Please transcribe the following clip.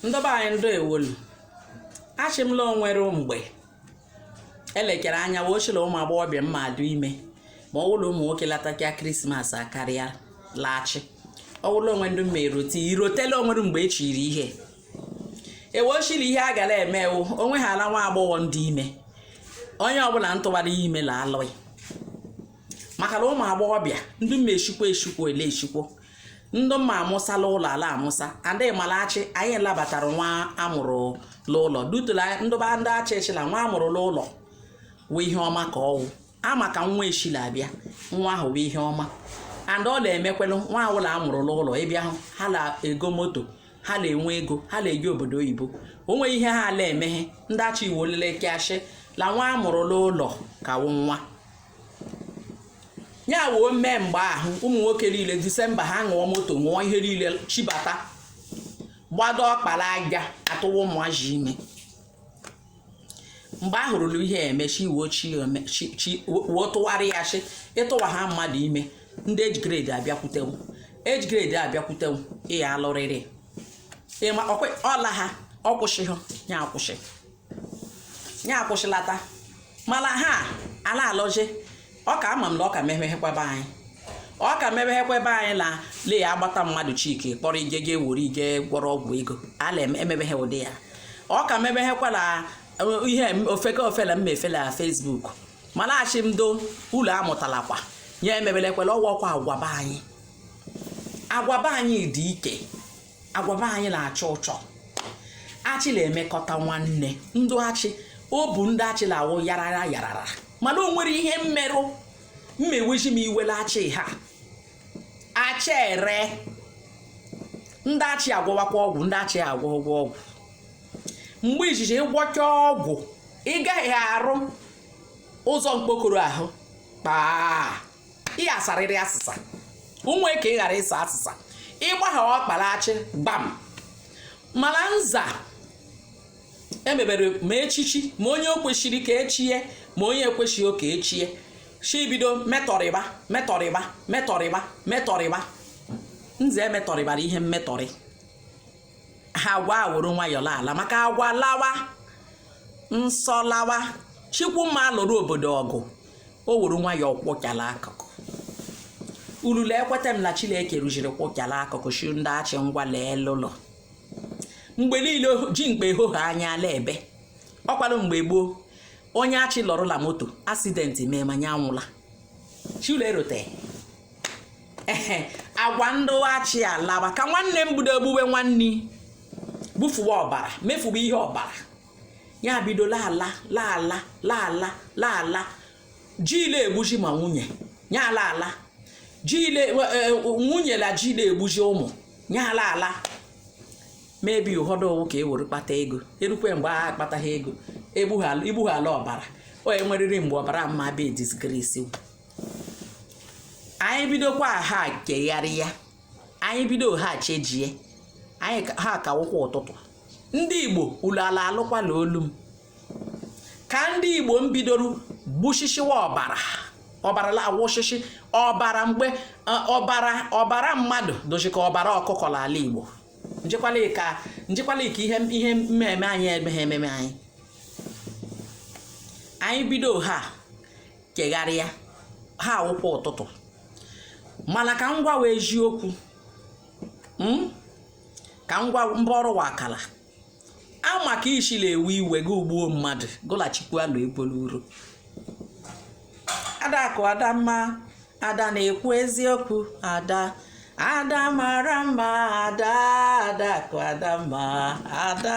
ndụ ba anyị ndeewolu achị m la o nwere mgbe e lekere anya wee shi la ụmụ agbọghọbịa mmadụ ime ma ọ wụlụ ụmụ nwoke lata ka krismas akarịa la achị ọ wụlụ onwe ndị mma erote i rotela o nwere mgbe e chiri ihe e wee shi la ihe a gara eme ewu onwe ha ala nwa agbọghọ ndị ime onye ọbụla ntụwara ihe ime la alụghị maka na ụmụ agbọghọbịa ndị mma eshikwo eshikwo e le eshikwo ndị mma amụsa la ụlọ a la-amụsa and ala achị anyị labatara nwa amụrụ n'ụlọ dutula ndụ ba ndị achị shi la nwa amụrụ n'ụlọ wụ ihe ọma ka ọ wụ ama ka nwa shi la-abịa nwa ahụ wụ ihe ọma and ọ na-emekwelụ nwa ọwụla amụrụ n'ụlọ ị bịa hụ ha na-ego moto ha na-enwe ego ha na-eje obodo oyibo o nweghị ihe ha ala emeghe ndị achị ewee lelekịa shị la nwa amụrụ n'ụlọ ka wụ nwa ya woo mee mgbe ahụ ụmụ nwoke niile disemba ha goo moto goo ihe niile chibata gbado ọkpa la aja atụwa ụmụazị ime mgbe a hụrụ la ihe emechi iwe chi wee tụgharịa shị ị tụwa ha mmadụ ime ndị age grade abịakwute wụ age grade abịakwute wụ ị ya-alụrịrị ịma ọla ha ọkwụsị ha ya akwụsị ya akwụsịlata mana ha ala alụzi ọ ka ama m na ọ ka mebeghekwa ba anyị ọ ka mebeghekwa ebe anyị na le ya agbata mmadụ chike kpọrọ ije ga ewere ije gwọrọ ọgwụ ego ala emebeghe ụdị ya ọ ka mebeghekwa na uh, ihe ofeke ofele mma efele na fesbuk mana ashị m ndị ụlọ amụtalakwa ya emebelekwala ọ wụ okwu agwa ba anyị agwa ba anyị dị ike agwa be anyị na-achọ ụchọ achị na-emekọta nwanne ndụ achị o bụ ndị achị na-awụ yarara yarara mana o nwere ihe mmerụ mmewezi m iwe la achị ha achị ere ndị achị agwọwakwa ọgwụ ndị achị agwọ agwọ ọgwụ mgbe izizi ị gwọcha ọgwụ ị gaghị arụ ụzọ mkpokoro ahụ kpaa ị ya-asarịrị asịsa ọ wụ ka ị ghara ịsa asịsa ị gbagha ọkpa la achị gbam mana nza emebere ma echichi ma onye o kwesịrị ka echie ma onye ekwesịghị ka echie shi bido metọrịba metọrịba metọrịba metọrịba nze emetọrịbara ihe mmetọrị ha agwa awụrụ nwayọọ laala maka agwa lawa nsọ lawa chikwu mma alụrụ obodo ọgụ o were nwayọọ kwụcha la akụkụ ulu la-ekweta m na chineke rụziri kwụcha la akụkụ shi ndị achị ngwa leelụ mgbe niile ji mgbe ehohe anya ala ebe ọkwalụ mgbe gboo onye achị lọrụ la moto asidenti mee ma nya anwụla shi ulu erote ehe agwa ndụghachi alaba ka nwanne m bido gbuwe nwanne bufuwe ọbara mefuwe ihe ọbara ya bido laala laala laala laala ji la-egbuzi ma nwunye ya ala ala ji ile e, e, nwunye la ji la-egbuzi ụmụ ya ala ala mebi ụfọdụ ọ wụ ka e were kpata ego e rukwe mgbe a kpataghị ego i gbughala ọbara o nwerịrị mgbe ọbara mma be disgrace anyị bidokwa ha kegharịa anyị bido ha chejie anyị ha kawụkwa ụtụtụ ndị igbo ulu ala alụkwala olu m ka ndị igbo m bidoro gbushishiwa ọbara ọbara la-awụshishi ọbara mgbe e, ọbara ọbara mmadụ dịzi ka ọbara ọkụkọ n'ala igbo njekwala ka njekwala ka ihe ihe mmemme anyị emeghe ememe anyị anyị bido ha kegharịa ha awụkwa ụtụtụ mana ka m gwawa eziokwu hmm? ka m gwa mba ọrụ wa akala a maka ishi la-ewe iwe gị egbuo mmadụ gụlachikwa alụ ekwela uru adakụ adamma ada na-ekwu eziokwu ada ada mara mma ada adakụ adamma ada